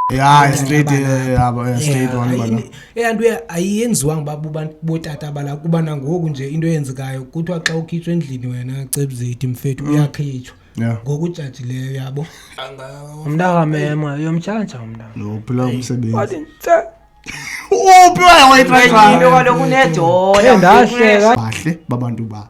ya straight yabo eh, straight one bana eyanto eh, ayiyenziwanga babu bantu botata bala kuba nangoku nje into eyenzekayo kuthiwa xa ukhitshwa endlini wena cebuzeti mfethu mm. uyakhitshwa ngokujajileyo yabo umntakamema yomtshanja umntanophila umsebenzi uphi wayewayitrayiinto kaloku unedola bahle babantu ba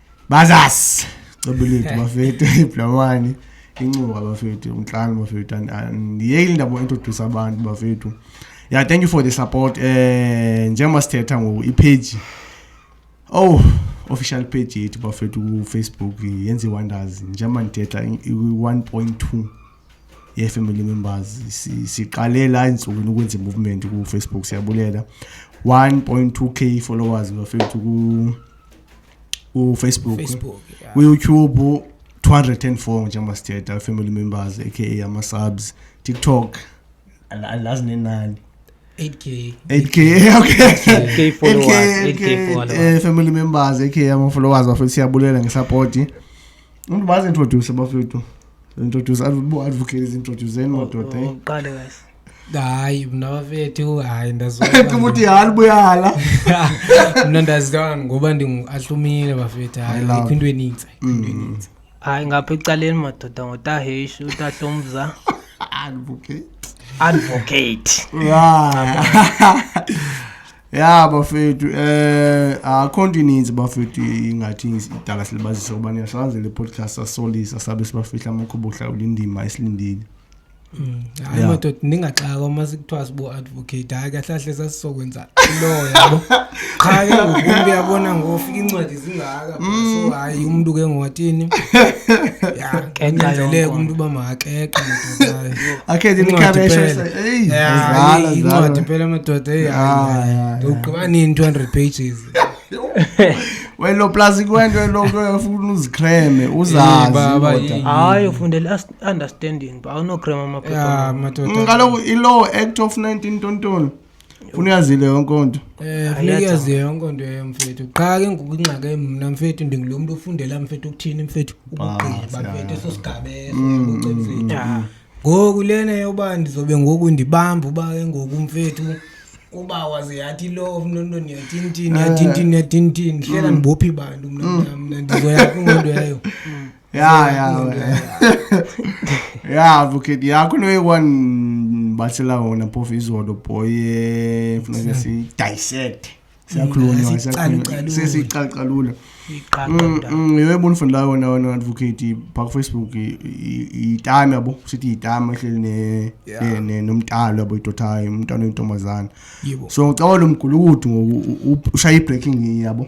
bazas cebulithu bafethu iblamani incuba bafethu umtlani bafethu andiyeki ndabo introduce abantu bafethu yeah thank you for the support um eh, njengoba sithetha ngoku ipage oh official page yethu bafethu kufacebook yenza i-wonders njengoba ndithetha i-one point two ye-family members siqalela entsukwini ukwenza i-movement kufacebook siyabulela 1.2 k followers bafethu ufacebook Facebook, yeah. uyoutube 204 njengoba sithetha family members aka ama-subs tiktok al- alazi nenani 8k 8k okay 8K followers, 8K, 8K eh, followers. family members aka ama-followers bafethu siyabulela ngesapoti umntu bazi introduce bafethu introduce advocate is introduce eni madoda eh? uqale guys hayi mna bafethu hayi ndazoemuthi halibuyala mna ndazidana ngoba ndinguahlumile bafethu hayi ikho into enintsi mm. hayi ngapha ecaleni madoda ngotaheshi utahlomza advocate advocate ya bafethu um eh, akho ah, nto ininzi bafethu ingathi idala silibazisa ukuba niyahlazela ipodcast asolisa sabe sibafihla amakhuba ohlawula indima esilindile Mm. hayi Yeah. madoda ndingaxaka uma sikuthiwa sibo-advocate hayi kahle kahle sasizokwenza loo yabo qha ke ngoku umntu uyabona ngofika iincwadi zingaka Mm. so hayi umntu ke ngowathini ya kunyanzeleke yonke. umntu uba makakeqe madoda hayi. akhethe Incwadi imikhabesho phela. eyi Ya, zala eyi, incwadi zala phela madoda eyi, hayi, Ah, hayi. yeah, yeah. Ndogqiba nini 200 pages welo plus kwento eloko uyafuna uzikreme Eyi, baba, uzazi eyi. hayi ufundela as- understanding ba awunograma amaphepha mm, kaloku ilaw act of 19 tontoni funa uyazile yonke nto um funeka uyaziyo yonke nto eyo mfethu qha ke ngoku ingxake mna mfethu ndingulo mntu ofundela mfethu ukuthini mfethu ukugqiba ah, mfethu eso sigabeso mm, mfethu mm, ngoku lena yoba ndizobe ngoku ndibamba uba ke ngoku mfethu uba waze yathi lo mnontoni yatintini yatintini yatintini hlela ndibophi bantu mna mna ndizoyaphi ngento yayo ya ya ya buketi ya kune one bachelor wona phofu izolo boye funeka sidissect siyakhulunywa sesicalucalula mm, mm, yho ebonifundela yona wona advocate phaa kufacebook yitami yabo sithi yitami ehleli nomntalo yabo idotayo umntana oyintombazana so ngicabala umgulukudu ngoku ushaya i-breaking yabo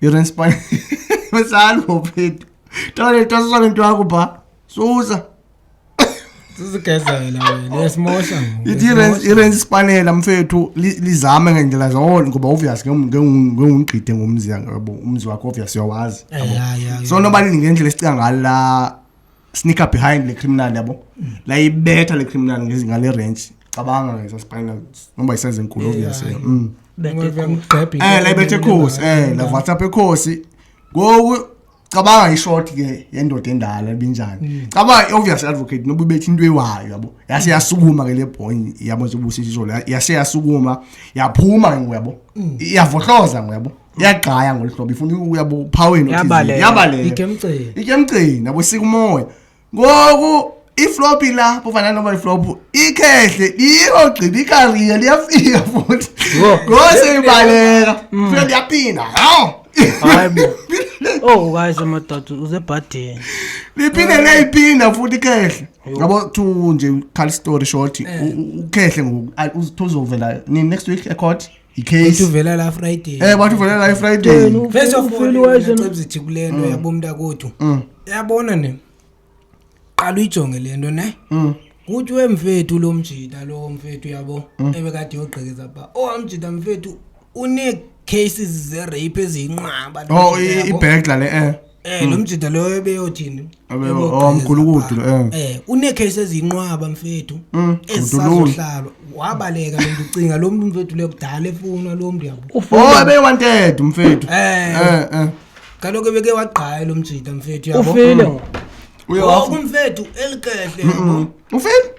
irespon mesalvo phethu tole tosisa nento yakho pha susa sizigezela wena yasimosha ngoku. ithi Yasimosha. irensi isipanela mfethu li- lizame ngendlela zonke ngoba obvious ngengumgqide ngomzi yabo umzi wakho obvious uyawazi Eh, ya, ya, ya. so noba lingendlela esicinga ngalo la sneaker behind le criminal yabo layibetha le criminal ngezi- ngale ranch cabanga ngeza spinal noba iseza enkulu obviously Yeah. Mm. eh layibetha ekhosi eh la whatsapp ekhosi ngoku cabanga ishort ke yendoda endala ebinjani cabanga i-obvious advocate noba ibetha into ewayo yabo yase yasukuma ke le boy yabo njengoba usitsho yase yasukuma yaphuma ke ngoku yabo iyavohloza ngoku yabo iyagqaya ngolu hlobo ifuna ukuya buphaweni Yabaleka. yabaleka Igemceni. ityemcini yabo sika umoya ngoku iflopi la bufana noba iflopu ikhehle liyogqiba ikariya liyafika futhi Yho. ngose ibaleka fika liyaphinda hawu Hayi bo. Oh guys amadoda usebhadini. liphinde liyayiphinda futhi ikhehle yabo to nje khal story short u- u- ukhehle ngoku a- uthi uzovela nini next week ecourt icase uvela la friday eh bathi uvela la friday first of all uyacebizithi kule nto mm. yabo mntakothu mm. yabona ne qala uyijonge le nto ne mm. kuthi wemfethu lo mjita lo mfethu yabo ebekade yogqekeza pha owamjita oh, mfethu une-cases ze-rape eziyinqaba oh ibhegla le um Eh hmm. nomjida loyo ebeyothini. Oh mkhulu kudu eh. Eh une case ezinqwaba mfethu. Hmm, Esazohlalwa. Wabaleka lo ngicinga lo muntu mfethu le kudala efuna lo muntu yabo. Oh ebe wanted mfethu. Eh. eh eh. Kaloke beke wagqaya lo mjida mfethu yabo. Ufile. Hmm. Uyawafu oh, mfethu elikehle. Ufile?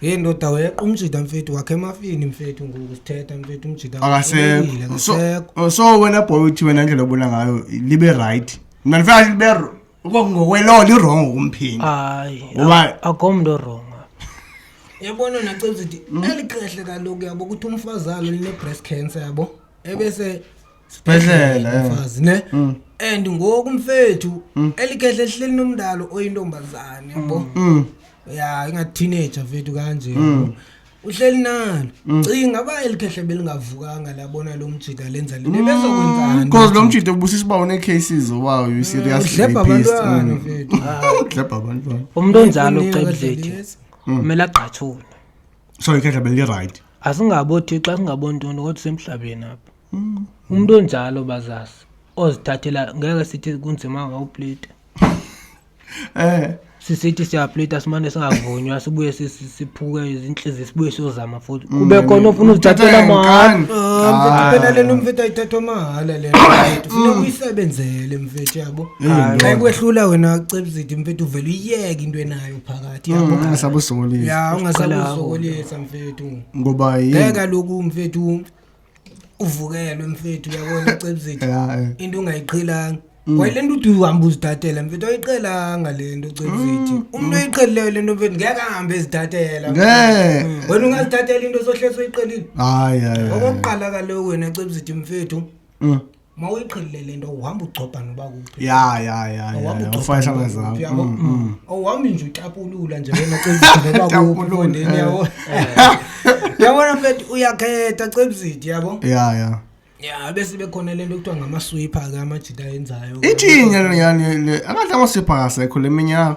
Hey ndoda weqa umjida mfethu wakhe emafini mfethu ngoku sithetha mfethu umjida akasekho so, oh, so wena boy uthi wena ndlela obona ngayo libe right mna ndifana libe ngokwelo lirongo kumphingi hayi akomntu orongo yabona nacenza ukuthi hmm? eli qehle kaloku yabo ukuthi umfazalo line-breast cancer yabo ebese sibhedlela eh. mfazi ne mm. and ngoku mfethu mm. elikhehle ehleli nomndalo oyintombazane yabo mm. ya ingateenager mfethu kanje uhleli nalo mm. cinga uba elikhehle belingavukanga labona lo mjita lenza lento mm, bezokwenzani because lo mjita ubusisa uba une-cases oba uyi-seriouslebha mm, abantwana fetudlebha abantwana umntu onjalo cebudleti kumele agqathule so ikhehla belilirayithi asingabothixo asingabontondo kodwa semhlabeni apha umntu onjalo bazazi ozithathela ngeke sithi kunzima ngawuplita Eh, sisithi siyaplita simane singavunywa sibuye si- si- siphuke izintliziyo sibuye siyozama futhi Mm, kube khona ofuna uzithathela mahala Mfethu, Ah. phela lena mfethu ayithathwa mahhala lena mfethu funeka uyisebenzele mfethu yabo Hayi, xa ikwehlula wena cebuzidi mfethu uvele uyiyeke into enayo phakathi yabo Mm, angasabusolisa ya ungasakuzokolisa mfethu ngoba ngeke yini kaloku mfethu uvukelwe mfethu uyabona cebzithi eh. into ungayiqhelanga mm. wayile nto ude uhamba uzidatela mfethu ayiqhelanga le nto cebzithi mm, umntu mm. oyiqhelileyo le nto mfethu ngeke ahambe ezidatela wena ungazidatela into sohlesa uyiqhelile hayi hayi okokuqala kaloku wena cebzithi mfethu mawuyiqhelile le nto uhamba ugcobha noba kuphi ya ya ya awuhambi mm, mm. mm. nje ucapulula nje wena cebisiyabo yabona mfethu uyakhetha cebisidi yabo ya ya ya bese bekhona lento kuthiwa ngamaswipha ke amajita enzayo ithini yani akadla amaswipha akasekho le minyaka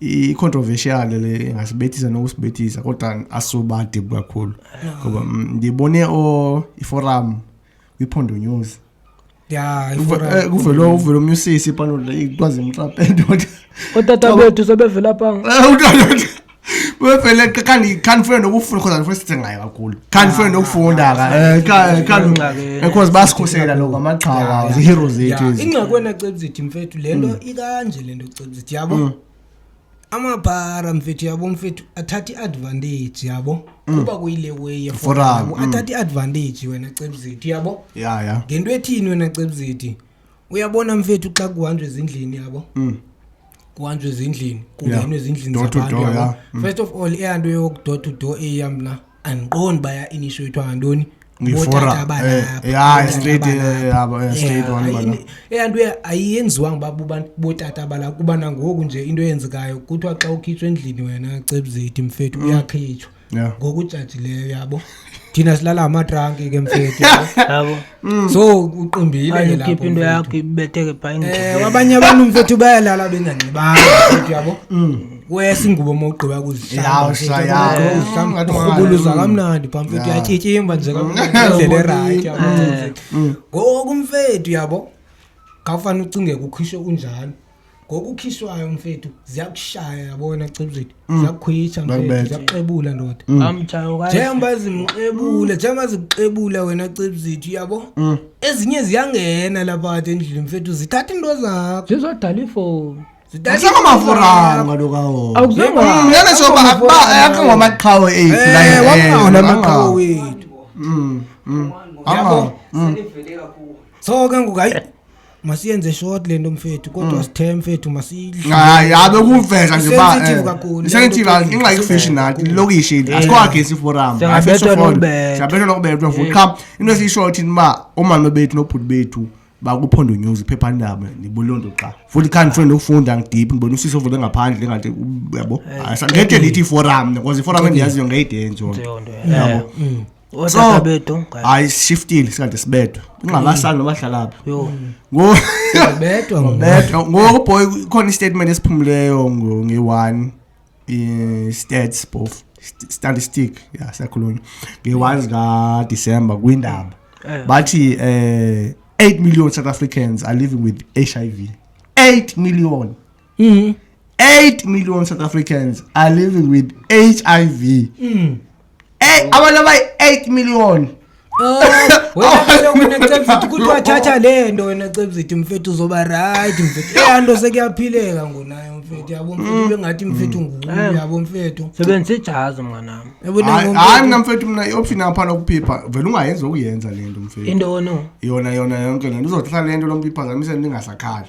i-controversial le ingasibethisa nokusibethisa kodwa asubadib kakhulu ngoba mm, ndibone iforum kwiphondo news ya eh, kuvele uvele omnye usisi panola ikwazi imxape ndoda otata bethu sebevela panga eh, bevele kanti khandifuna nokufunda because andifuna sithe ngayo kakhulu khandifuna ah, nokufunda because eh, basikhusela loko amaqhawa ziheroes zethu ingxakwenacebzithi mfethu le nto hmm. ikanje le nto ndithi yabo mm. amabhara mfethu yabo mfethu athatha i-advantage yabo mm. kuba kuyile way yeforam mm. athatha i-advantage wena cebuzithu yabo ya ya ngento ethini wena cebuzithu uyabona mfethu xa kuhanjwe ezindlini yabo mm. kuhanjwe ezindlini kungenwe ezindlini zabantu first of all eyanto yokudor to door eya mna andiqondi uba ya-initiatwa ngantoni eyanto ayiyenziwanga uba bubani bootata bala kuba nangoku nje into eyenzekayo kuthiwa xa ukhitshwa endlini wena cebuzeti mfethu mm. uyakhitshwa ngokujajileyo yabo thina silala amatranki ke mfethu yabo Mm. so uqimbile Ayi, lapho ukhiphe into mfethu. yakho ibetheke phayini Eh, abanye abantu mfethu bayalala benganxibanga mfethu yabo wesa ingubo uma ugqiba Yawu, kuzihlamba sha, yawu. Ngathi urhubuluza ungayi- kamnandi pha mfethu Ya. uyatyityimba nje kamndlela erayithi yabo mfethu. ngoku mfethu yabo ngafane ucinge kukhishwe unjalo ngokukhishwayo mfethu ziyakushaya yabona cibuzwethu mm. ziyakukhwitsha mfethu ziyakuxebula ndoda mm. njengoba zimxebule njengoba zikuxebula wena cibuzwethu yabo mm. ezinye ziyangena laphati endlini mfethu zithatha into zakho zizodala ifowuni asakamafuranga lokawonene soba akhe ngamaqhawe ethu layeona amaqhawe wethu yabo so ke ngoku hayi masiyenze short lento mfethu kodwa mm. sithe mfethu masiyidlhayi habe kuveza nje basensitive eh, ingxaki fishi nathi lilokishi into asikwagesi forum siyabethwa nokubethwa futhi qha into esiyishoyo thini uba omama bethu nobhuti bethu bakuphondo news iphephandaba nibulonto xa futhi khani funa nokufunda ngidip ngibona usisi ovule ngaphandle ngathi yabo eh, ngede ndithi iforum because iforum endiyaziyo ngeyide nje yabo mm. otata bedo hayi shiftile sikade sibedwa ingqalasana noba hlala phi ngoku boy khona istatement esiphumleyo nge-one i-stats both statistic ya siyakhulunywa nge-one zikadisemba kwindaba eh. bathi um eight million south africans are living with h i v eight million mm. 8 million south africans are living with hiv mm. hey, oh. abantu abayi 8 million oh, kuthiwa thatha le nto wena cebzithi mfethu uzoba rayithi mfethu eya nto sekuyaphileka ngonayo mfethu yabo mfethu mm. bengathi mfethu mm. nguku eh. yabo mfethu sebenzisa ijazi mnganam hayi mna mfethu mna ioption apha lokuphipha vele ungayenzi okuyenza le nto mfethu into ono yona yona yonke le nto uzohlala le nto lomphipha zamisele ndingasakhali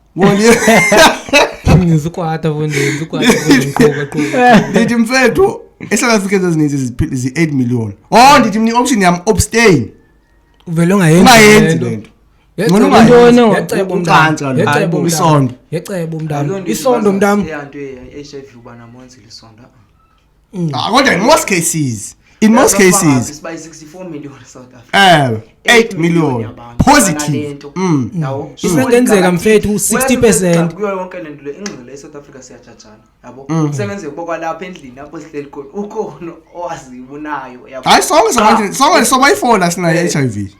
ndizikwata fo ndizikwata ndithi mfethu esouth africa ezininzi zi-eight million o oh, ndithi mna i-option yam obstain uvele ungayenzi le nto ngonongoisondo isondo mntam Mm. Ah, kodwa in most cases in most cases um 8 million positive mm. mm. isengenzeka mfethu 60 percent kuyo yonke le nto le ingxelo e-south africa siyajajana yabo mm. isengenzeka uba kwalapha endlini apho sihleli khona ukhona owazibunayo hayi sonke sonke sobayifona sinayo-h i v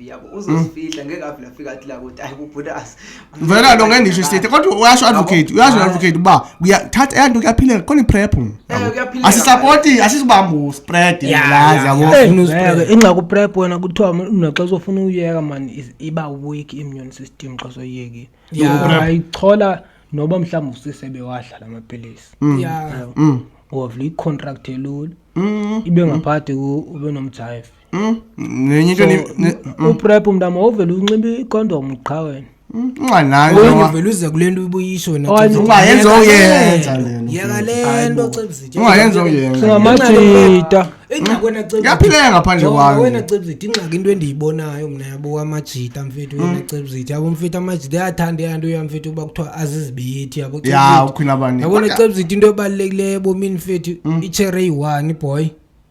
yabo uzosifihla ngeke avele afika athi la kuthi hayi kubhutasa vela lo ngendisho isithethe kodwa uyasho advocate uyasho advocate uba kuyathatha eyanto kuyaphilela khona iprep asisapoti asisibambu spread lazi yabo ingxaki uprep wena kuthiwa naxa uzofuna uyeka mani iba weak immune system xa soyekile ayichola noba mhlawumbi usisebe wadla la mapilisi mm. wavula icontract elula mm. ibe ngaphakathi ube nomjayive Mm, nenye into So, ni- ne- mm, uprep mntama wovele unxiba ikhondom qha wena mm, unganayo Oye, nowa. ngivele uze kule nto ubuyisho wena Oye, Cebisi. ungayenza Yeka uyenza le nto. yeka le nto cebisithe Ungayenza uyenza. singamajita ingxaki wena Cebisi. Kuyaphileka ngaphandle Jonga, kwami. wena cebisithe ingxaki into endiyibonayo mna yabo amajita mfethu wena Mm. cebisithe yabo mfethu amajita ayathanda eyanto ya mfethu uba kuthiwa azizibiyithi yabo ya Cebisithe. ukhwina bani yabona cebisithe into ebalulekileyo ebomini mfethu itshere eyi-one boy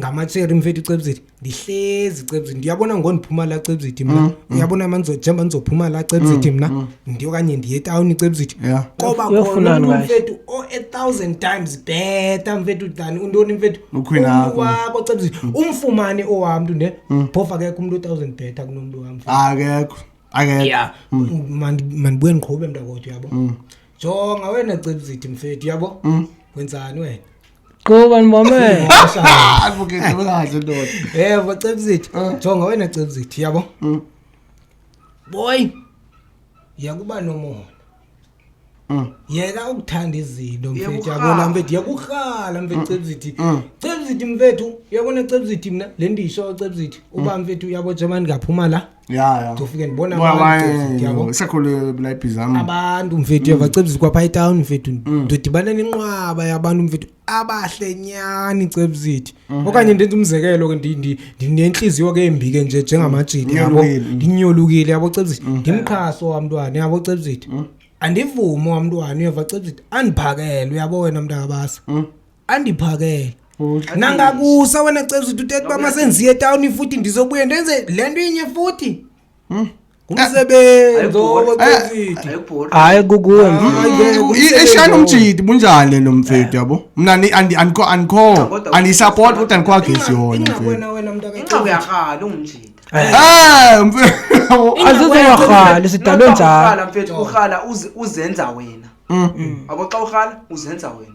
ngamatshere mfethu icebuziti ndihlezi icebuziti ndiyabona ngondiphuma la cebuziti mna mm, mm. uyabona mm. manjengoba ndizophuma la cebuziti mna mm, mm. ndiokanye ndiye etawuni icebuziti yeah. koba khona mntu mfethu o a thousand times better mfethu than untoni mfethu wabo cebuziti mm. umfumane owam mntu ne mm. phofu akekho umntu othousand better kunomntu wam akekho akekho yeah. mm. mandibuye ndiqhube mntakodwa uyabo mm. jonga wena cebuziti mfethu uyabo mm. wenzani wena Qhuba ndibamele. Advocate wekahle ndoda. Eh, bacebzithi. Jonga wena cebzithi, yabo? Mm. Boy. Yakuba nomona. Mm. Yeka ukuthanda izinto mfethu yabo la mfethu yakurhala mfethu mm. cebzithi. Mm. Cebzithi mfethu, yabona cebzithi mina le ndisho cebzithi. Uba mfethu yabo German ngaphuma la. ya ya ndofike ndibona sakholelwe bulayipi zam abantu mfethu yavacebisa mm. kwapha etown mfethu mm. ndodibana nenqwaba yabantu mfethu abahle nyani cebo zethu mm-hmm. okanye ndenza umzekelo ke ndinentliziyo ke embi ke nje njengamajidi yabo ndinyolukile yabo cebo zethu mm-hmm. ndimqhaso wamntwana yabo cebo zethu mm. andivume wamntwana uyava cebo zethu andiphakele uyabo wena mntakabasa andiphakele nangakusa wena cebza uthi uthetha uba masenziye etawuni futhi ndizobuye ndenze le nto inye futhi Hmm? ngumsebenzi owocezithi hayi kukuwe eshayina umjidi bunjani lo mfethu yabo mna ni- andi- andikho andikho kodwa- andiyisapoti kodwa andikho agesi yona mfethu ingxakwena wena mntu inxa uyarhala ungumjita Ah, mfethu azizowarhali sidalwe njalo mfethu urhala uzi- uzenza wena abo xa urhala uzenza wena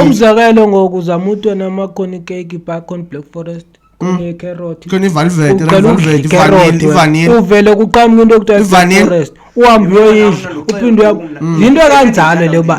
umzekelo ngoku zama utwe namakhoni keki bacon black forest uvele kuqamuka into ekuthiwaforest uhambe uyoyidla uphinde uya mm. yinto ekanjalo le uba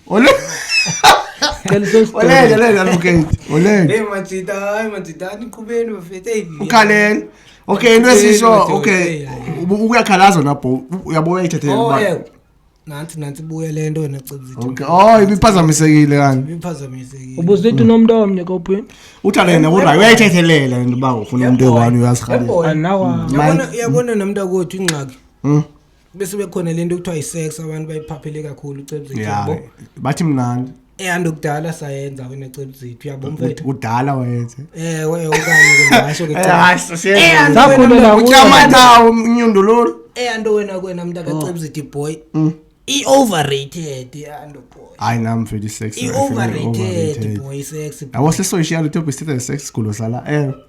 Ole. Ole, ole, ole, okay. Ole. Hey, machita, hey, machita, niqhubeni bafethu. Hey. Ukhaleni. Okay, into esisho, okay. Uyakhalaza na bho. Uyabo uyayithathela oh, ba. Nanti nanti buye le nto wena cebuzithe. Okay. Oh, ibiphazamisekile kanti. Ibiphazamisekile. Ubuzithe unomntu omnye kophi? Uthalene kodwa uyayithethelela into ba ufuna umuntu one uyazikhalela. Yabona yabona nomntu akothi ingxaki. Mhm. bese bekhona le nto kuthiwa yisex abantu bayiphaphele kakhulu ucebuzithu ya yabo bathi mnandi eyanto kudala sayenza wena cebuzithu yabo mfethu kudala wayenze ewe okanye ke ndingasho ke Eh, cha. hayi, sasiyenza. Eya, nto wena Sakhulela mntaka- kuyo. Utyamatawo, umnyundululu eya nto wena kwena Oh. mntakacebuzithu boy Mm. i-overrated yanto boy hayi nam mfethu isex i-overrated boy sex yabo sesoyishiya lutho bisthetha sex sigulo sala ewe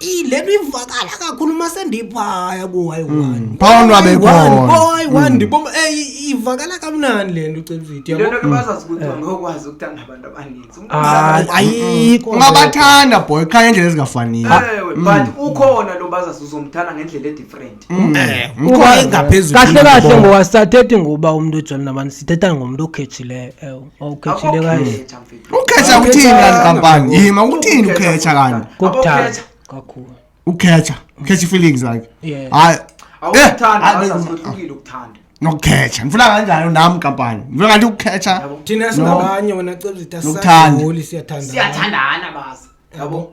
ile nto ivakala kakhulu uma sendiphaya kuwayi-one phawona wabe khona kuwayi-one ndiboma eyi ivakala kamnani le nto ucevidiyo le nto ke bazazi ukuthi bangokwazi ukuthanda abantu abaninzi Umntu Ah, akazi- ayikho ungabathanda boy qha ngendlela ezingafaniyo Ewe, but ukhona lo bazazi uzomthanda ngendlela edifferent Eh, Ukhona. uba ingaphezulu kahle kahle yinto. ngowasathethi ngoba umntu ojolina abantu sithetha ngomntu okhethileyo ewu okhethileyo kanje Akukho khetha, mfethu. ukhetha uthini kanti kampani yima uthini ukhetha kanti kokuthanda kakhulu ukhetha ukhetha feelings like hayi awuthanda eh, asahlukile ukuthanda nokukhetha ngifuna kanjani nami kampani ngifuna kanti ukukhetha thina singabanye wena cebuzita sasiholi siyathandana siyathandana bazi yabo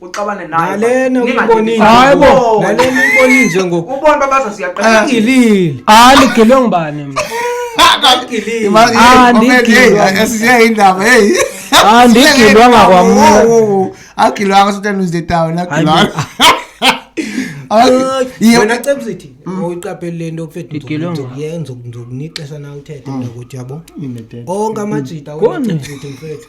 uxabane naye nalena uyibonile Hayi bo. nalena uyibonile nje ngoku ubona babaza siyaqala igilile andigilwe ngubani mna igilile Ah, ndigilwa. esiyayindaba heyi Ah, ndigilwanga kwamna. agilwanga sometimes is the town agilwanga Iye- wena cebsithi uyiqapheli le nto fethu Igilwe ngubani? ndizokuyenza ndizokunixesha na uthethe mntakuthi yabo onke amajita Koni? wenacebsithi mfethu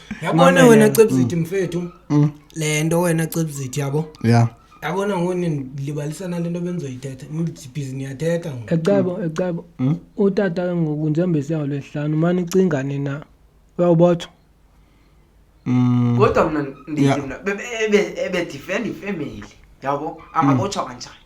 yabona wena cebzithi mm. mfethu mm. le nto wena cebzithi yabo ya yabona ngoni ndilibalisa nale nto bendizoyithetha ndibhizi ndiyathetha ngoku ecebo ecebo mm. utata ke ngoku njengoba esiyawo lwesihlanu mani icingane na uyawubotho kodwa mna ndithi mna ebedifenda ifemeli yabo angabotshwa kanjani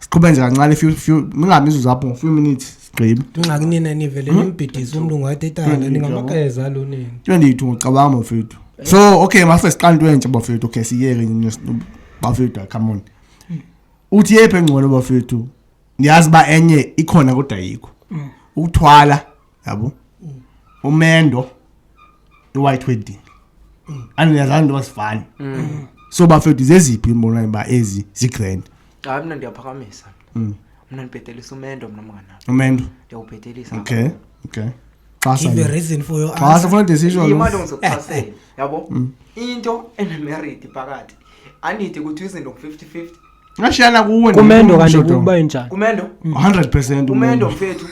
siqhube nje kancane few few mingabi mizuzu apho few minutes sigqibe ingxaki nina nivele hmm? nimbhidisa umuntu ngathi etala ningamakeza lo nini 22 ngicabanga bafethu so okay mase siqala into entsha bafethu okay siyeke bafethu come on hmm. uthi yephi engcono bafethu ndiyazi uba enye ikhona kodwa yikho hmm. ukuthwala yabo umendo i-white wedding andinezaa nto basifani so bafethu zeziphi imbonayo uba ezi zigrand hayi mna ndiyaphakamisa Mm. mna ndibhetelisa umendo mna mngana umendo ndiyawubhetelisa okay okay xasa give a mna. reason for your xasa answer funa decision imali lo. ongizokuxhasela yabo into enemeriti phakathi andide ukuthi izinto ngu-fifty fifty Ngashiyana kuwe Kumendo kanti kuba injani? Kumendo? 100% Kumendo mfethu.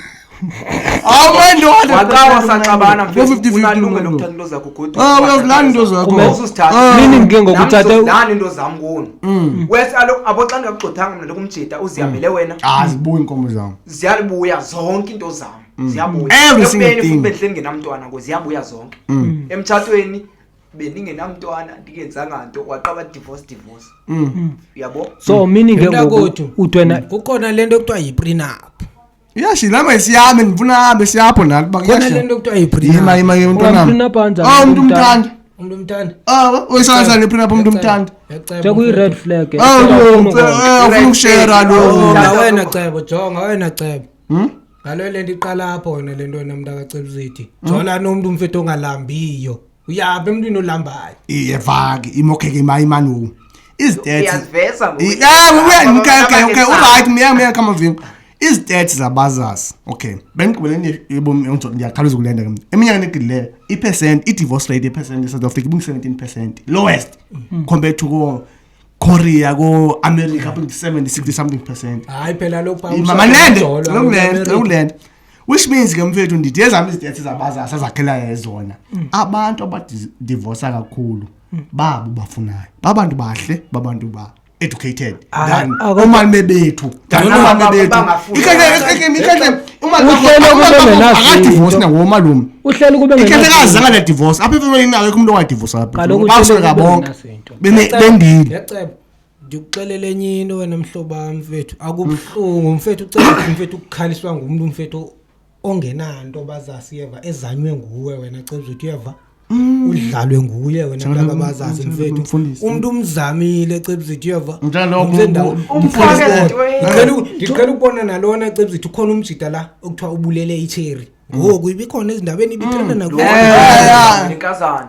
Awumendo waqawa saxabana mfethu unalunge lokuthatha into zakho godu. Ah uyazilanda into zakho. Kumbe usithatha. Ah. Nini ngike ngokuthatha? Lana into zami kuno. Mm. Wes alo aboxa ngakugxothanga mina lokumjita uzihambele mm. wena. Ah zibuya inkomo zami. Ziyabuya zonke into zami. Mm. Ziyabuya. Every single thing. Futhi benhleni ngenamntwana ngo ziyabuya zonke. Emtshatweni bendingenamntwana ndingenzanga nto waqaba divorce divorce mm. uyabo so meaning ke ngoku Mntakwethu. uthi wena kukhona le nto kuthiwa yi-prenup yashi lama isiyame ndifuna ahambe siyapho nathi uba khona le kuyashi nto kuthiwa yi-prenup yima yima yima mntwanam Ungamphinapha kanjani Ah, umntu umntana? umthanda umntu umthanda Ah, uyisanza nephinapha umntu umthanda nje kuyi-red flag eh. Ah, Ufuna lo, ukwenza- eh, ufuna ukushera lo Oh, Jonga wena cebo jonga wena cebo Hmm? Ngalo le nto iqala apho wena le nto wena mntu akacela uzithi. Jola nomntu umfethu ongalambiyo. Uyaphi emntwini olambayo? Iye vaki imokheke imayi manu. Izidetsi. Uyaziveza ngoku. Yeah, uya ngeke Abanye okay, sabo. alright, miya miya come vim. Izidetsi zabazas. Okay. Bengigqibeleni yebomi yonke ndiyakhawuleza ukulenda ke. Eminyakeni egidileyo, i-percent, i-divorce rate ye-percent e-South Africa ibu-17%. Lowest compared to ko korea ko-america up into 70 60 something percent hayi phela lokupamanendelokulenda which means ke mfethu ndithi ezam izidetsi zabazasazakhelayo zona mm. abantu abadivosa kakhulu mm. babo bafunayo babantu bahle babantu ba educated ah, than ah, omame bethu thanabame bethu akadivosi nangomalume ikhethekazi angana divosi apha ifemelini akekho umntu ongadivosi apha bonke bendile ndikuxelela enye into wena mhlobam mfethu akubuhlungu mfethu ucela mfethu ukukhaliswa ngumntu mfethu ongenanto bazasiyeva ezanywe nguwe wena cebza uthi uyeva Mm. udlalwe nguye wena mntaka bazazi mfethu umuntu umzamile cebzithi uyeva ngicela ukubona nalona cebzithi ukhona umjida la okuthiwa ubulele icheri ngoku ibikhona ezindabenibithandanakunikazana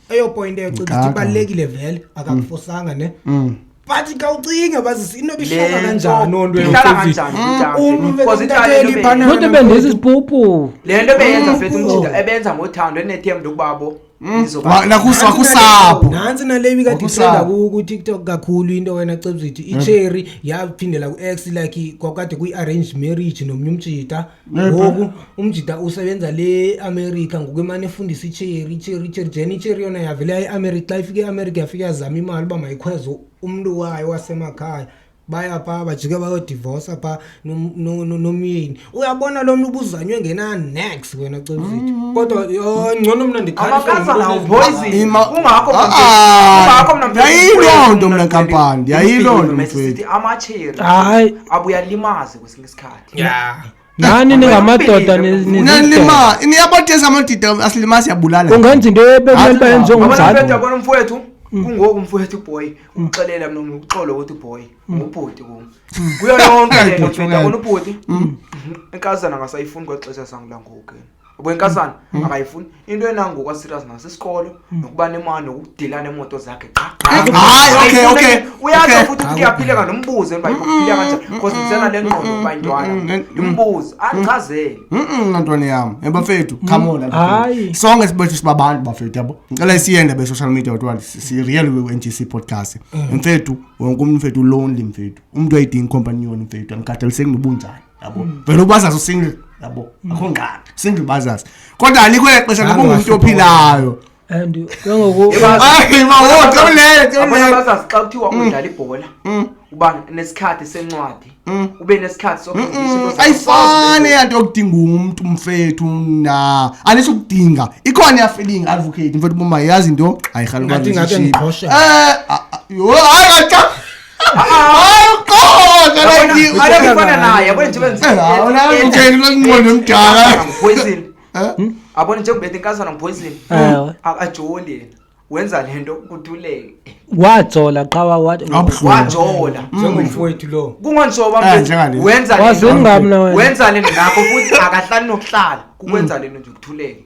eyopoyinto yocinga ukuthi ibalulekile vele akakufosanga ne mm. but khawucinge bazisi into bihlala kanjani onto ihlala kanjani umntuezitaneliphanaonto bendisa isibhubhu le nto beyenza fethu umjida ebenza ngothando enethemba lokubabo Mm. nakusapho nansi nale ibikade ithenda ku-tiktok kakhulu into wena cebzithi mm. icherry yaphindela ku-x like kwakade kuyi-arranged marriage nomnye umjita ngoku umjida usebenza le america ngoku emane efundisa icheri icheri icheri jen icheri yona yavele yayiamerica xa ifike eamerica yafike yazama imali uba mayikhweze umntu wayo wasemakhaya baya pha bajike bayodivosa pha nomyeni uyabona lo mntu ubuzanywe ngena next wena cozit mm. kodwa yho ngcono mna ndiyayiloo nto mna nkampani ndiyayiloo nto mfethu hayi abuyalimazi kwesinye isikhathi ya nani ningamadoda nilima niyabatesa amadida asilima siyabulala ungenza into ebekumele uba yenziwe ngumzali kona mfowethu mm. kungoku mfowethu boy umxelela mna uxolo ukuthi boy mm. ngubhuti kum mm. kuyo yonke lento mfowethu akona ubhuti enkazana ngasayifuni kwexesha sangulangoku ubo inkazana mm. akayifuni into enangoku aserious ngaso isikolo mm. nokuba nemali nokudila nemoto zakhe qha uyatsho futhi ukuthi uyaphileka nombuzo emba yokuphila kanjani because ndisena le ngqondo ukuba intwana ndimbuzo andichazele nantwana yam ebafethu khamona sonke sibethu sibabantu bafethu yabo ndicela isiyende be-social media kuthiwa si-real we-ngc podcast mfethu wonke umntu mfethu ulonely mfethu umntu ayidingi companion mfethu andikhathaliseki nobunjani yabo hmm. vele ubazazi usingle yabo hmm. akho ngqana single bazazi kodwa alikho exesha ngoba ungumntu ophilayo and ke ngoku abazazi xa kuthiwa hmm. udlala ibhola uba nesikhathi sencwadi ube nesikhathi ayifani yanto yokudinga umntu mfethu na anisho ukudinga ikhona iyafilinga advocate mfethu uba mayazi into ayirhalukaayi abona njengoba etikazana ngiphoyisile akajoli yena wenza le nto kutuleke wajola qha wajola njengomfowethu lo kungonsoba wenza le nto nakho futhi akahlali nokuhlala kukwenza le nto nje kuthuleke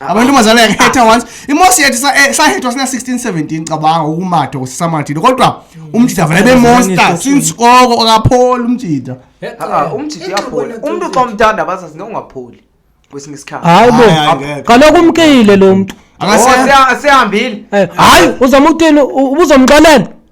Ah. amantombazana yangetha ah. once imosi yethu eh, sahethwa sina 1617 cabanga ukumatha kusisamathile kodwa mm. umjida vele bemonster since koko akapholi umjida ah, umjida uyapholi umntu xa umthanda abazazi nongapholi kwesinye isikhathi hayi bo kaloku umkile lo mntu oh, sihambile eh, hayi uzama utini ubuzomxelela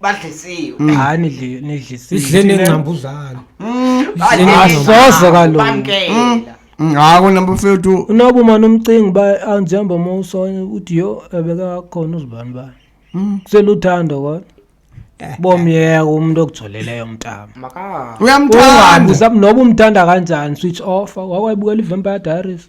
badlisiwe Mm. hayi nidli- nidlisile idle nengcambuzane asoze kaloku bamkela Mm, hayi kona bafethu unoba umane umcinga uba anjihamba uma usona uthi yho ebekakhona uzibani bani Mm. kuseluthando kodwa bomyeka umntu okujoleleyo mntama maka uyamthanda ungabuza noba umthanda kanjani switch off wakwayibukela i-vampire diaries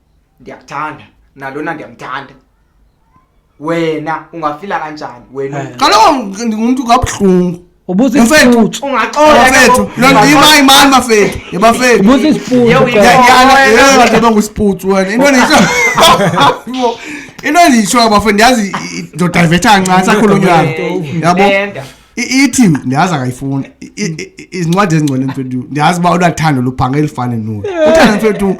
ndiyakuthanda nalona ndiyamthanda wena ungafila kanjani wena Eh. kaloku ndingumntu kabuhlungu ubuza Mfethu. isiputsu ungaxola bafethu ke- loo nto ima imani bafethu ye bafethu ubuza isiputsu Yewu, kaloku. ndiyanyana Wena. eyobathe bangusiputsu wena into endiyisho into endiyishoyo bafethu ndiyazi ndodayivethanga ncathi akhulunywana yabo Nenda. ithi ndiyazi akayifuni izincwadi ezingcwele mfethu ndiyazi uba unathando lubhange elifane nolu uthando mfethu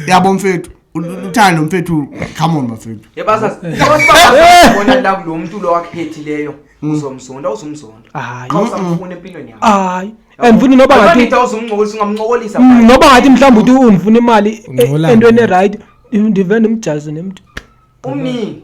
yabo mfethu uthando mfethu come on bafethu yebasasibonela kulo mntu lo wakhethileyo mm. uzomzonda uzumzonda xa usamfuna empilweni yakho hayi andifuni noba ngathi uzumncokolisa mm, noba ngathi mhlawumbi uthi undifuna imali e- entweni erayithi ndive ndimjazi nemntu umnini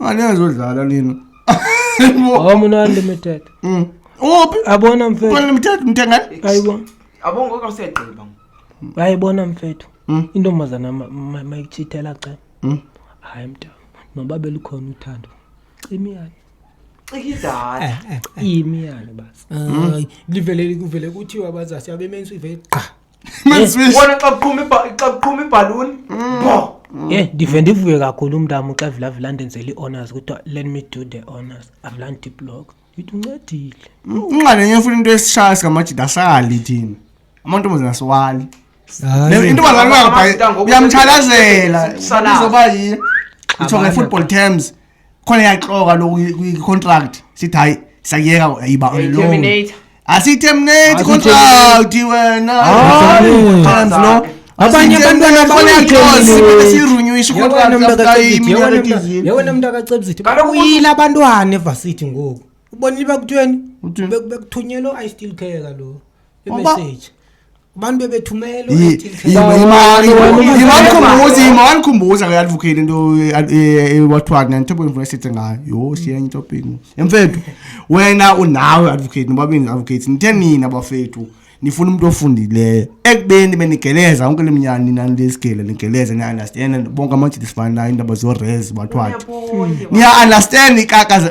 aliyazodlala lina homa una-unlimited Mm. uphi abona mfethu unlimited mthengani ayibona Abo ngoku awusegqiba. ayibona mfethu Mm. intombazana ma- ma- mayitshithela ceba Mm. hayi mnta noba belukhona uthando imiyane Cika idala. iyimiyane basi Ay, livele kuvele kuthiwa abazasi abemenzi ivele gqa ubona xa kuqhuma xa kuqhuma ibhaluni bo ye ndive ndivuye kakhulu umntam xa evulavula ndenzela i-honors kuthiwa let me do the honors i've learned the blog yithi uncedile unxalenye ufuna into esishaya sikamajida asali thina amantombazana asiwali Hayi. intombazana Amajita ngoku- uyamthalazela Sisalazi. uzoba yini itsho nge-football terms khona yaxoka lo kwi-contract sithi hayi sakuyeka yiba terminate asiyiterminate contract wena ah, times lo abanye abantwana bayikhosiyewena mntu akacebisithi bakuyile abantwana evasithi ngoku ubonile bakuthiweni bekuthunyelwe i still care kaloku imessage abantu bebethumela iwanikhumbuza ima wanikhumbuza ke advocate into wathiwa kna nto bendifuna sithe ngayo yho siyenye into pingu emfethu wena unawe advocate nobabini advocate nithe nina bafethu nifuna umuntu ofundileyo ekubeni benigeleza yonke le mnyana nina lesigele nigeleza niya-understand bonke amajidi sifana nayo iindaba zorez bathwathi niya-understand ikaka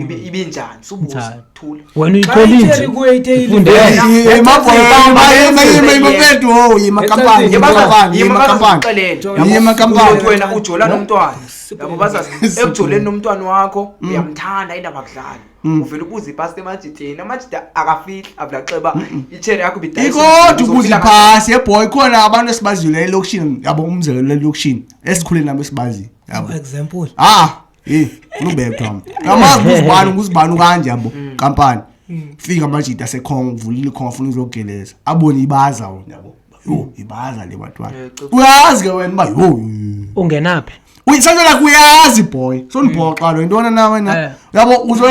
ibe hmm. ibe njani subuza thula wena uyiqhelile ufunde imapethu ho yimakampani yimakampani yimakampani wena ujola nomntwana yabo bazazi ekujoleni nomntwana wakho hmm. uyamthanda indaba kudlala hmm. uvele ubuza ipasi emajideni amajida akafihli avulaxeba itshere yakho bidayikodwa ubuza ipasi yeboy khona abantu esibaziyo la elokishini yabo umzekelo lelokishini esikhule nabo esibaziyo yabo example ah heyi unubethwa mna kamazi nguzibani nguzibani ukanje yabo kampani fika amajita asekhonga uvulile ikhonga afuna uzogeleza abone ibaza wona yabo yho ibaza le bantwana uyazi ke wena uba yho ungenaphi uyisatshela kuyazi boy sondibhoxa lo yintona na wena Eh. yabo uzo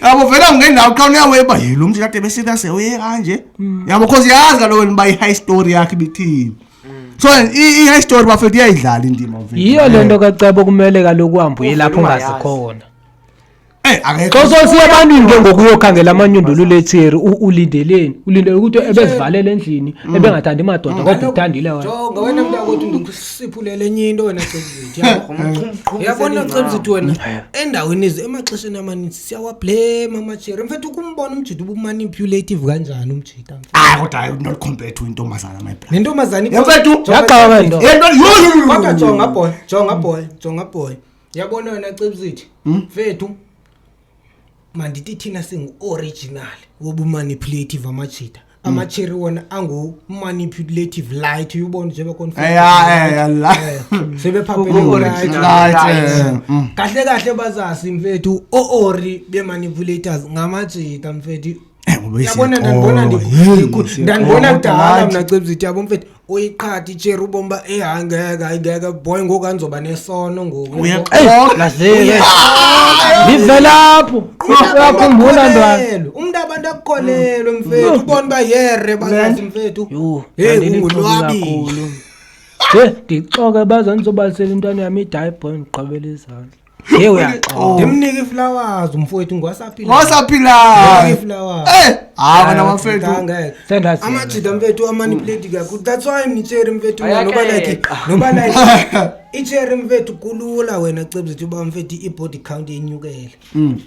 yabo vele ungendawo xa uneyaweba yilo mntu kade besitase uye kanje yabo cause yazi kaloku wena uba i-high story yakhe ibithini so i-high story bafethu iyayidlala indima mfethu yiyo le nto kacebo kumele kaloku uhambe uye lapho ungazi khona Eh akekho. Xa sosiya ebantwini ke ngokuyokhangela amanyundulu letheri ulindeleni. Ulindele ukuthi ebezivalele endlini mm. ebengathandi madoda mm. kodwa uthandile wena. Jonga wena mntu akothi ndikusiphulele enye into wena Cebzithi. Yabona Cebzithi wena mm. endaweni izi emaxesheni amaninzi siyawablame amacheri. Mfethu ukumbona umjidi ubumanipulative kanjani umjidi. hayi kodwa hayi not compare to intombazana my brother nentombazana mfethu yaqala nto kodwa jonga boy jonga boy jonga boy yabona wena cebisithi hmm? mfethu mandithi thina singu-original wobumanipulative amajita hmm. amacheri wona angu-manipulative light uyubona njengoba konfebephaphelekahle hmm. kahle bazasi mfethu o-ori be-manipulators ngamajita mfethu yabona ndandibona ndandibona kudala mna cebzithi yabo mfethu uyiqhatha itshere ubomi uba eyi hayi ngeke hayi ngeke boy ngoku andizoba nesono ngokundivelapho uyakhumbula ntwana umntu abantu akukholelwe mfethu ubona uba yere bazazi mfethu heyi ungulwabile ndixoke baza ndizobalisela intwana yam idayi boy ndiqabela izandla Hey uyaxola. Ndimnike iflowers umfowethu ngwasaphila. Wasaphilayo. Iflowers. Eh, hayi wena mafethu. Ngeke. Sendazi. Amajita mfethu amanipulate kakhulu. That's why ngitshere mfethu Ayake. noba like noba like itshere mfethu kulula wena cebzethu uba mfethu i-body count yenyukele.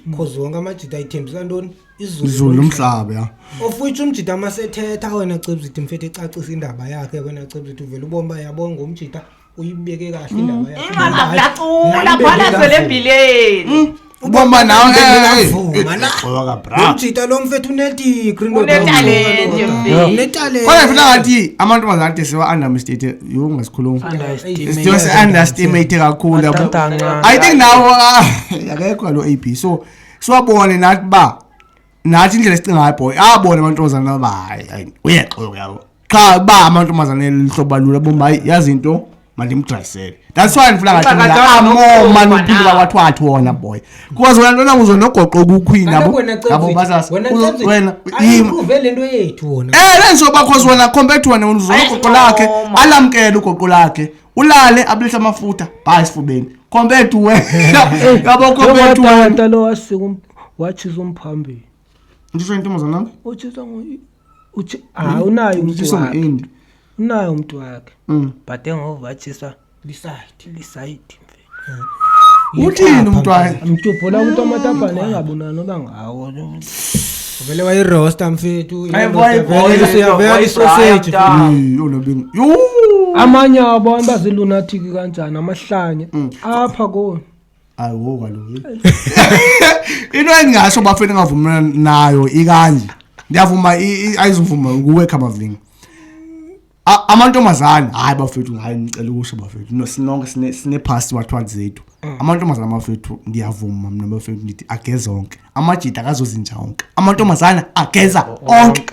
Because wonke amajita ayithembisa ntoni? Izulu Izulu lomhlaba ya. of which umjita masethetha wena cebzithi mfethu ecacisa indaba yakhe wena cebzithi uvele ubomba yabonga umjita uyibeke kahle mm. indaba yakho ingazi lacula phana selembhileni mm. ubomba nawe ngekavuma eh, eh, eh, ujita lo mfethu unedigri unetalentkodwa ngifuna ngathi amantombazana ade siwa-undermstate yo ngasikhuluma siyo si-understimate kakhulu yabo i think nawo ah, akekho lo a b so siwabone nathi uba nathi indlela esicinga ngayo boy abona amantombazana aba hayi hayi uyeqoka yabo qha ba amantombazana elihlobo lula bomba hayi yazi into mandimdrayisele that's why ndifuna ngathi Xaka, mina amo nogogo manophinda nawe. kwathiwa athi wona boy because wena ntona uzo nogoqo ukukhwini Kaloku yabo wena yabo Cebzi, basasa wena Uzo- Cebzi, wena yima ayiprove le nto yethu wona Eh lenzo bakho zona compared to wena uzonogoqo lakhe Ayisincomo. alamkele ugoqo lakhe ulale abulisa amafutha bhayi esifubeni compared to wena yabo compared to wena nta lo wasika watshisa umphambili ndisho intombazana nami utshisa ngo uthi hayi unayo umuntu wakhe unayo umuntu wakhe mm. but engovatshiswa lisayidi lisayidi uthini umntwana mtubhula umntu amatapane engabonani oba ngawo uvele wayirosta mfethu uyavela isoseji amanye abantu bazilunathiki kanjani amahlanye mm. apha koni ayiwo kaloku into endingasho bafeni engavumelana nayo ikanje ndiyavuma ayizuvuma kuwe khamavlinga amantombazana hayi bafethu hayi ndicela ukusho bafethu sinonke sinephasti wathwali zethu mm. amantombazana bafethu ndiyavuma mna bafethu ndithi ageza onke amajita akazozinja onke amantombazana ageza onke onke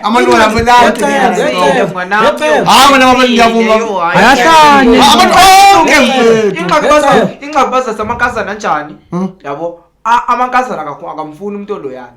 amantombazanainxakubazasamakazana njani hmm? yabo amakazana akamfuni umntu oloyani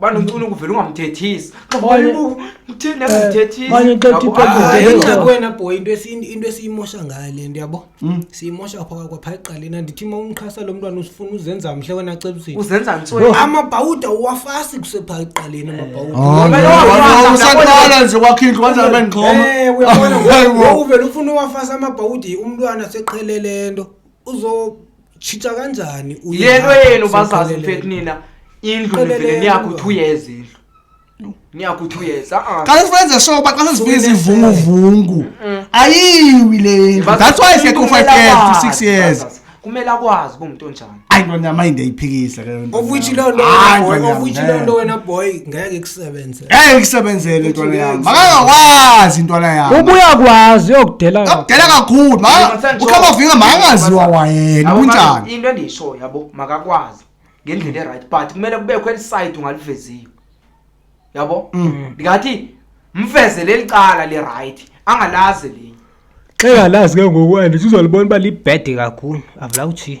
Bana ucuna ukuvela ungamthethisi. Xa Manye- ubuku uthini Eh, angamthethisi. manye xa Yabo, uthi- ah, Hayi Yebo. nakwena boy into esi- into esiyimosha ngayo le nto yabo Mm. siyimosha phaa kwaphaa eqaleni andithi ma umxhasa lo mntwana usifuna uzenza mhle wena cebusini Uzenza ntsweni. amabhawuda uwafasi kusephaa eqaleni amabhawuda Oh, Wena no, wafasa, no, usaqala nje wakho indlu kanjani bendixhoma Eh, uyabona Hayi, ngoku- wo. ngoku vele ufuna uwafasa amabhawudi umntwana seqhele le nto uzo Tshintsha kanjani uye yento ngapha, yenu bazazi siqelelene. mfethu nina indlu Qelelene nivele niyakuthi mntwana. uyeza indlu niyakuthi uyeza a-a xa sifenze sure uba xa sesifika izivunguvungu ayiwi le ndlu Bazazi, that's why sekho umntu five kumele years to akwazi, six years bazazi. kumele akwazi uba umntu onjani ayi nto nyama indayiphikisa ke Of which leyo nto Hayi, wena boy, nto nyama, of which leyo eh. nto wena boy ngeke Sebenze. Hey ngisebenzele ntwana yami. Makangakwazi intwana yami. Ubuya kwazi yokudela. Akudela kakhulu. Ma ukhamba vinga makangaziwa wayena kunjani. Into endisho yabo makakwazi ngendlela eright but kumele kubekho eliside ungaliveziyo. Yabo? Mm. Ngathi mfeze lelicala le right angalazi linye. Xeka lazi ke ngokwani sizolibona uba libhede kakhulu avula uthi.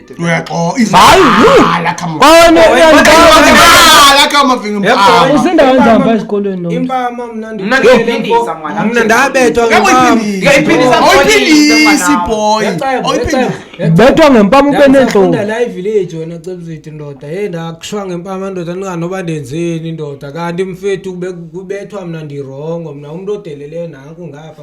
bethwa ngempama ube neentlongoayivilejonacebuziti ndoda ye ndakushwa ngempama ndoda ndinganoba ndenzeni ndoda kanti mfethu kubethwa mna ndirongo mna umntu odeleleyo nanku ngapha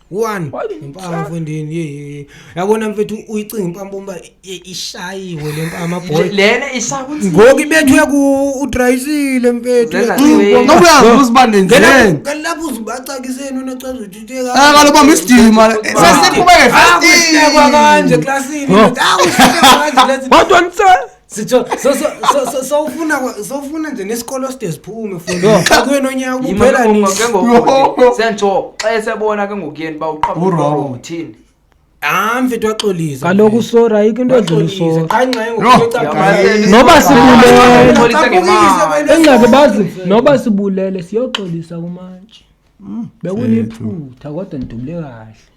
one impama mfondini ye yabona mfethu uyicinga impama bomba ishayiwe le mpama boy lena ishakuthi ngoku ibethwe ku udrayisile mfethu ngokuyazi usibande nje kalapho uzibacakiseni unocaza uthithe eh, ka kaloku bamba isidima eh, sesiqhubeke ah, fast kanje classini awuhleke kanje lezi kodwa ntsela sitsho so- so- so- so- sowufuna kwa- sowufuna nje nesikolo side ziphume fundi xa kuye nonyaka kuphela nini ke ngoku sentsho xa esebona ke ngokuyeni uba Urongo. uqhabuka uthini hayi mfethu waxolisa kaloku sora ayikho into edlula waxolisa usora qha ingxenye Yho, ngokucacisile Noba sibulele. Xolise ngemali. engxaki bazi noba sibulele siyoxolisa kumantshi bekuliphutha kodwa ndidubule kahle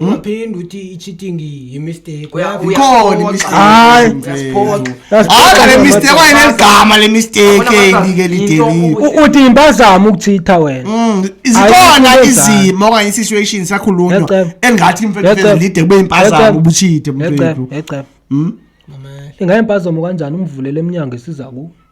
ungaphindi uthi i-cheating yi-mistake Uya- uya- Ikhona imistake. Hayi. Uyasiphoxa. That's Hayi le bad. mistake wayeneligama le mistake Yabona, eli mama, ke into lideliwe. ubu- U- uthi impazamo ukuchitha wena Mm, zikhona Ayikho izimo okanye i-situation sakhulunywa Yacebo. engathi Yacebo. imfethu lide kube impazamo Yacebo. ubuchithe mfethu. yecebo yecebo Mama, ingayempazamo kanjani umvulele emnyango esiza kuwo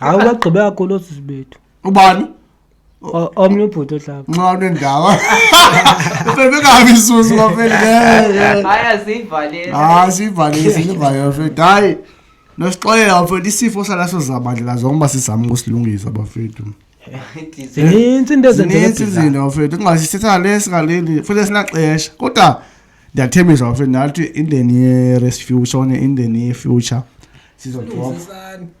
hawu bagqibe kakhulu osisi bethu ubani O- omnye ubhuti ohlaba nxa unendawo bebekabi isusu bafethu hayi asiyivaleli hayi siyivalile siyivalile bafethu hayi nosixolela bafethu isifo salaso zabandlela zonke uba sizama ukusilungisa bafethu zininzi into ezenzeka zininzi ebhizana. izinto bafethu kungasithetha le singaleli futhi sinaxesha kodwa ndiyathembisa bafethu nathi indeni ye-rest future one indeni ye-future sizothoba Sisani.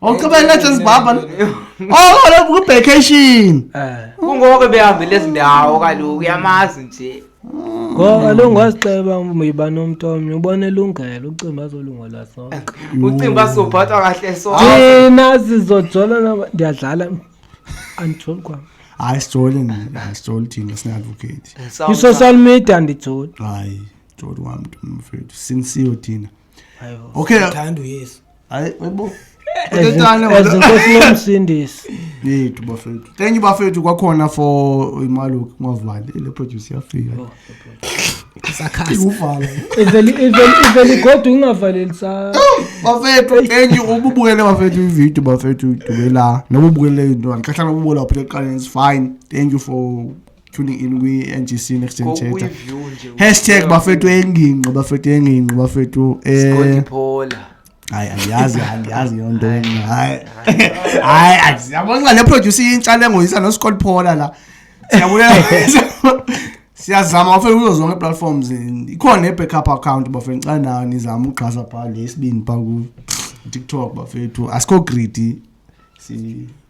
okubeletha zibhabha oko lo kuvacation kungoke behambe lezi ndawo kaloku uyamazi nje ngoba lo ngazixeba uyiba nomntu omnye ubona elungelo ucimba azolungela sonke ucimba asophathwa kahle sonke thina sizojola ndiyadlala andijoli kwam hayi sijoli sijoli thina sine-advocate i-social media andijoli hayi joli wam mfethu sinsiyo thina okay thanda uyesu hayi yebo ezinkosi lomsindisi yethu bafethu thank you bafethu kwakhona for imaluki ngwavale le produce yafika oh, iveli kodwa ungavaleli sa bafethu thank you ububukele bafethu ividiyo bafethu dubela noba ubukele into andihlahla nobubola waphela ekuqaleni is fine thank you for tuning in kwi-ngc next gen chatter Kokuyiview nje. hashtag bafethu engingqi bafethu engingqi bafethu Scotty eh Phola. hayi andiyazi andiyazi yo nto mna hayi hayi andiyabonxa le producer intsha le ngoyisa noscott phola la siyabulela siyazama bafethu kuzo zonke ii-platforms and ikhona ne-backup account bafethu xa nayo nizama uxhasa phaa le isibini phaa ku-tiktok bafethu asikho greedy si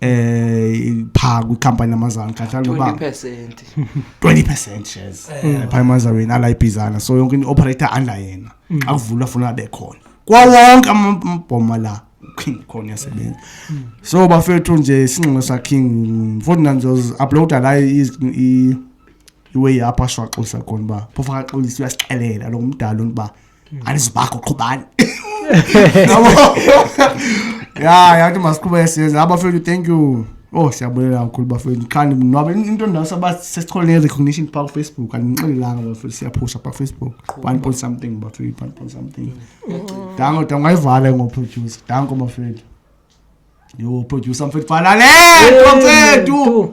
eh pha kwikampani yamazalwane kahlala noba 20% 20% shares eh, pha emazalweni ala ibhizana so yonke into operator under yena mm. xa kuvulwa funa abe khona kwa wonke amabhoma la king khona yasebenza mm. so bafethu nje isinxele sa king mfowethu nanzo uploada la i iwe yapha shwaxisa khona ba phofa xolisa uyasixelela lo mdala uba ani zibakho qhubani ya yathi masiqhuba esiyenza abafethu thank you oh siyabulela kakhulu bafethu qha ndinwabe into ndasaba sesithole ne-recognition phaa kufacebook andinixelelanga bafethu siyaphusha phaa kufacebook one point something bafethu one point something danko danko ngayivala ngoproducer danko bafethu yho producer mfethu fanale totsethu